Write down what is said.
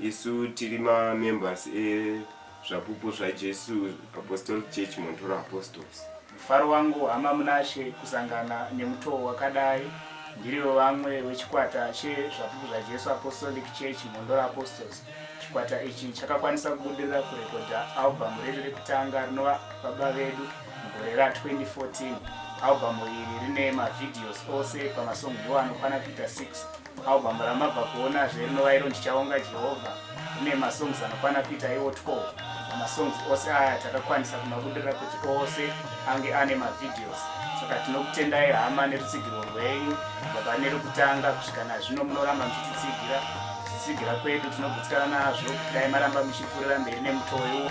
Isu tiri mamembers ezvapupu zvaJesu Apostolic Church Montoro Apostles. Mufaro wangu hama Munashe kusangana nemutoo wakadai. Ndirivo vamwe wechikwata chezvapupu zvaJesu Apostolic Church Montoro Apostles. Chikwata ichi chakakwanisa kubudirira kurekodha albhamu redu rekutanga rinova Baba Vedu mugore ra 2014. Albhamu iri rine mavhidhiyosi ose pamasongi iwo anokwana kuita 6. Album ramabva kuona zve rinova iro ndichaonga Jehovha rine masongs anokwana kuita iwo 12 masongs ose aya takakwanisa kumabudirira kuti ose ange ane mavideos saka tinokutendai hama nerutsigiro rwenyu baba nerukutanga kusvika nazvino munoramba muchititsigira kutsigira kwedu tinogutsikana nazvo kudai maramba muchipfuurira mberi nemutoo iwo